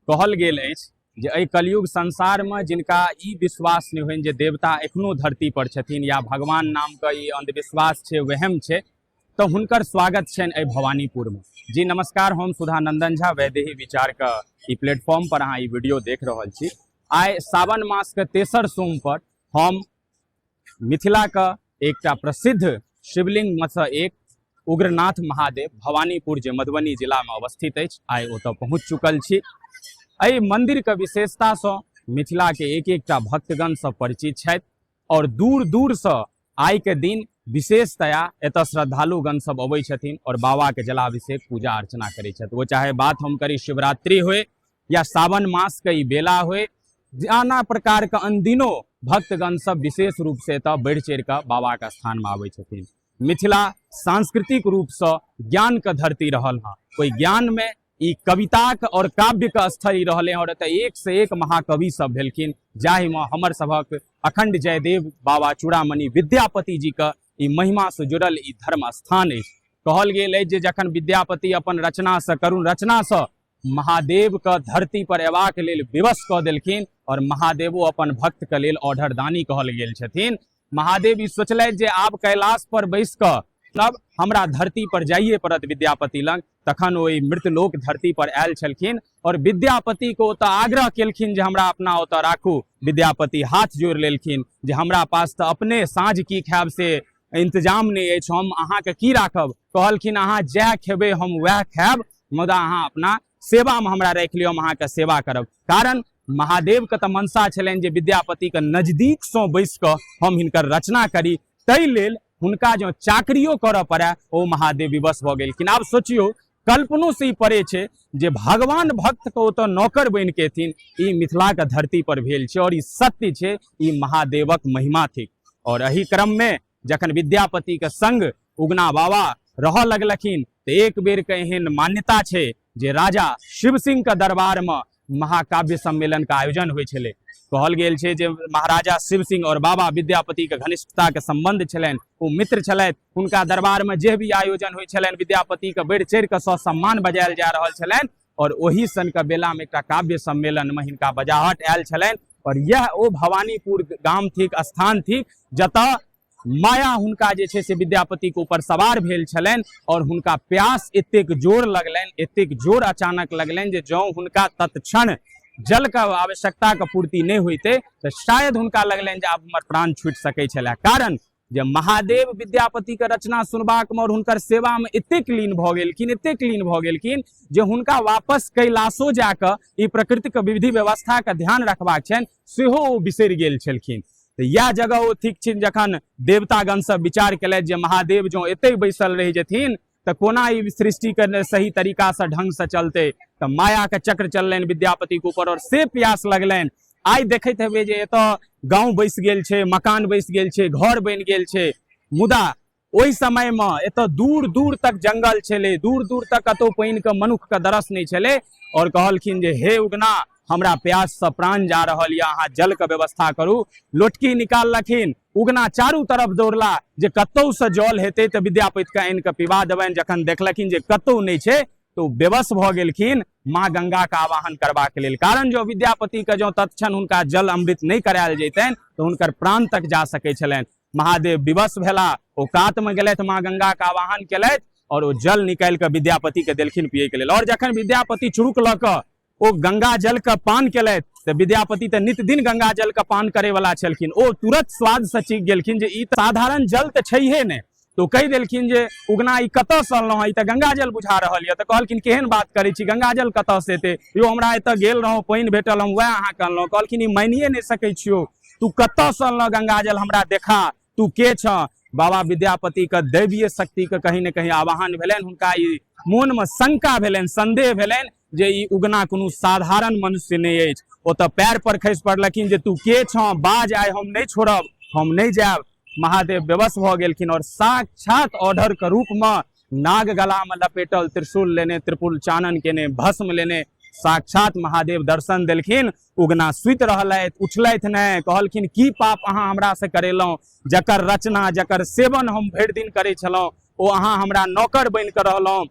कहल गेल अछि जे एहि कलयुग संसारमे जिनका ई विश्वास नहि होनि जे देवता एखनो धरती पर छथिन या भगवान नामके ई अंधविश्वास छै वहम छै तऽ हुनकर स्वागत छनि एहि भवानीपुरमे जी नमस्कार हम सुधा नंदन झा वैदेही विचारके ई प्लेटफॉर्म पर अहाँ ई वीडियो देख रहल छी आइ सावन मासके तेसर सोम पर हम मिथिलाक एकटा प्रसिद्ध शिवलिंग में से एक उग्रनाथ महादेव भवानीपुर जे मधुबनी जिला में अवस्थित अछि आइ ओतऽ पहुँच चुकल छी एहि मंदिर के विशेषता से मिथिला के एक एकटा भक्तगण सब परिचित छथि और दूर दूर से आइ के दिन विशेषतया एतऽ श्रद्धालुगण सब अबै छथिन और बाबा के जलाभिषेक पूजा अर्चना करै छथि वो चाहे बात हम करी शिवरात्रि होय या सावन मासके ई बेला होय नाना प्रकारके अनदिनो भक्तगण सब विशेष रूपसँ एतऽ बढ़ि चढ़ि कऽ बाबाके स्थानमे आबै छथिन मिथिला सांस्कृतिक रूपसँ ज्ञानके धरती रहल हँ ओहि ज्ञानमे ई कविताके आओर काव्यके स्थल ई रहलै आओर एतऽ एकसँ एक महाकवि सब भेलखिन जाहिमे हमर सभक अखंड जयदेव बाबा चूड़ामणि विद्यापति जीके ई महिमासँ जुड़ल ई धर्म स्थान अछि कहल गेल अछि जे जखन विद्यापति अपन रचनासँ करुण रचनासँ महादेवके धरती पर अयबाक लेल विवश कऽ देलखिन आओर महादेवो अपन भक्तके लेल ऑर्डर दानी कहल गेल छथिन महादेव ई सोचलथि जे आब कैलाश पर बैस कऽ तब हमरा धरती पर जाइए पड़त विद्यापति लग तखन ओ मृतलोक धरती पर आयल छलखिन और विद्यापति को ओतऽ आग्रह केलखिन जे हमरा अपना ओतऽ राखू विद्यापति हाथ जोड़ि लेलखिन जे हमरा पास तऽ अपने साँझ की खायब से इंतजाम नहि अछि हम अहाँके की राखब कहलखिन अहाँ जएह खेबै हम वएह खायब मुदा अहाँ अपना सेवामे हमरा राखि लिअ हम अहाँके सेवा करब कारण महादेवके तऽ मनसा छलनि जे विद्यापतिके नजदीकसँ बैस कऽ हम हिनकर रचना करी ताहि लेल हुनका जँ चाकरियो करऽ पड़य ओ महादेव विवश भऽ गेलखिन आब सोचियौ कल्पनो से ई पड़े छै जे भगवान भक्त के ओतऽ नौकर बनि के एथिन ई मिथिला के धरती पर भेल छै और ई सत्य छै ई महादेवक महिमा थिक और एहि क्रम में जखन विद्यापतिके संग उगना बाबा रहऽ लगलखिन तऽ एक बेरके एहन मान्यता छै जे राजा शिव सिंहके दरबारमे महाकाव्य सम्मेलनके आयोजन होइ छलै कहल गेल छै जे महाराजा शिव सिंह आओर बाबा विद्यापतिके घनिष्ठताके सम्बन्ध छलनि ओ मित्र छलथि हुनका दरबारमे जे भी आयोजन होइ छलनि विद्यापतिके बढ़ि चढ़ि कऽ ससम्मान बजायल जा रहल छलनि और ओहि सन के बेला में एक काव्य सम्मेलन में हिनका बजाहट आयल छल और यह ओ भवानीपुर गाम थिक स्थान थिक जत माया हुनका जे छै से विद्यापति के ऊपर सवार भेल छलनि और हुनका प्यास एतेक जोर लगलनि एतेक जोर अचानक लगलनि जे जौ हुनका तत्क्षण जल के आवश्यकता के पूर्ति नहि होते तो शायद हुनका लगलनि जे आब हमर प्राण छूटि सकै छलै कारण जे महादेव विद्यापतिके रचना सुनबाकमे आओर हुनकर सेवामे एतेक लीन भऽ गेलखिन एतेक लीन भऽ गेलखिन जे हुनका वापस कैलाशो जा कऽ ई प्रकृतिके विधि व्यवस्थाके ध्यान रखबाक छनि सेहो ओ बिसरि गेल छलखिन तऽ इएह जगह ओ ठीक छनि जखन देवतागणसभ विचार केलथि जे महादेव जँ एतहि बैसल रहि जेथिन तऽ कोना ई सृष्टिके सही तरीकासँ ढङ्गसँ चलतै तऽ मायाके चक्र चललनि विद्यापतिके ऊपर आओर से प्यास लगलनि आइ देखैत हेबै जे एतऽ गाँव बैसि गेल छै मकान बैसि गेल छै घर बनि गेल छै मुदा ओहि समयमे एतऽ दूर दूर तक जंगल छलै दूर दूर तक कतहु पानिके मनुक्खके दरस नहि छलै आओर कहलखिन जे हे उगना हमरा प्याससँ प्राण जा रहल यऽ अहाँ जलके व्यवस्था करू लोटकी निकाललखिन उगना चारू तरफ दौड़ला जे कतौसँ जल हेतै तऽ विद्यापतिके आनि कऽ पिबा देबनि जखन देखलखिन जे कतौ नहि छै तऽ ओ बेबस भऽ गेलखिन माँ गंगाके आवाहन करबाक लेल कारण जँ विद्यापतिके जँ तत्क्षण हुनका जल अमृत नहि करायल जैतनि तऽ हुनकर प्राण तक जा सकै छलनि महादेव विवश भेला ओ कातमे गेलथि माँ गंगाके आवाहन केलथि आओर ओ जल निकालि कऽ विद्यापतिके देलखिन पियैके लेल आओर जखन विद्यापति चुरुक लऽ कऽ ओ गंगा जल के पान केलथि तऽ विद्यापति तऽ नित दिन गंगा जल के पान करे वाला छलखिन ओ तुरंत स्वाद से चीख गेलखिन जे ई साधारण जल तऽ छैहे ने तो कहि देलखिन जे उगना ई कतऽ से अनलहुँ ई तऽ गंगा जल बुझा रहल यऽ तऽ कहलखिन केहन बात करै छी गंगा जल कतऽ से एतै यो हमरा एतऽ गेल रहौं पानि भेटल हम वएह अहाँके अनलहुँ कहलखिन ई मानिए नहि सकै छियौ तू कतऽ से अनलहुँ गंगा जल हमरा देखा तू के छ बाबा विद्यापति के दैवीय शक्ति के कहीं ने कहीं आवाहन भेलनि हुनका ई मोन में शंका भेलनि संदेह भेलनि जे ई उगना कोनो साधारण मनुष्य नहि अछि ओ तऽ पैर पर खसि पड़लखिन जे तू के छ बाज आइ हम नहि छोड़ब हम नहि जायब महादेव बेबस भऽ गेलखिन और साक्षात ऑर्डर के रूप में नाग गला में लपेटल त्रिशूल लेने त्रिपुल चानन केने भस्म लेने साक्षात महादेव दर्शन देलखिन उगना सुति रहलथि उठलथि नहि कहलखिन की पाप अहाँ हमरासँ करेलहुँ जकर रचना जकर सेवन हम भरि दिन करै छलहुँ ओ अहाँ हमरा नौकर बनि कऽ रहलहुँ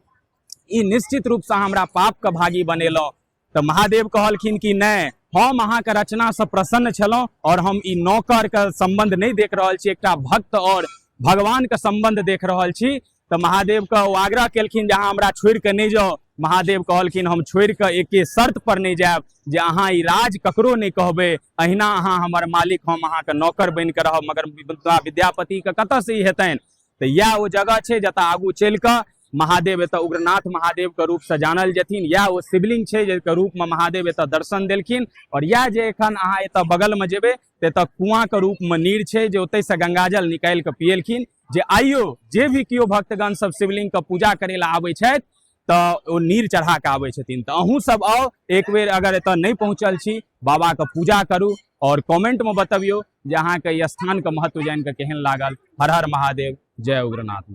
ई निश्चित रूपसँ हमरा पापके भागी बनेलहुँ तऽ महादेव कहलखिन कि नहि हम अहाँके रचनासँ प्रसन्न छलहुँ आओर हम ई नौकरके सम्बन्ध नहि देख रहल छी एकटा भक्त आओर भगवानके सम्बन्ध देख रहल छी तऽ महादेव के ओ आग्रह केलखिन जे अहाँ हमरा छोड़ि कऽ नहि जाउ महादेव कहलखिन हम छोड़ि कऽ एके शर्त पर नहि जायब जे अहाँ ई राज ककरो नहि कहबै अहिना अहाँ हमर मालिक हम अहाँके नौकर बनि कऽ रहब मगर विद्या विद्यापतिके कतऽसँ ई हेतनि तऽ इएह ओ जगह छै जतऽ आगू चलि कऽ महादेव एतऽ उग्रनाथ महादेवके रूपसँ जानल जेथिन इएह ओ शिवलिंग छै जाहिके रूपमे महादेव एतऽ दर्शन देलखिन आओर इएह जे एखन अहाँ एतऽ बगलमे जेबै तऽ एतऽ कुआँके रूपमे नीर छै जे ओतहिसँ गंगाजल निकालि कऽ पिएलखिन जे आइयो जे भी केओ भक्तगण सब शिवलिंग के पूजा करे ला आबे छथि तऽ ओ नीर चढ़ा के आबे छथिन तऽ अहूँ सब आउ एक बेर अगर एतऽ नहि पहुँचल छी बाबा के पूजा करू और कमेंट में बतबियो जे अहाँ के स्थान के महत्व जान के केहन लागल हर हर महादेव जय उग्रनाथ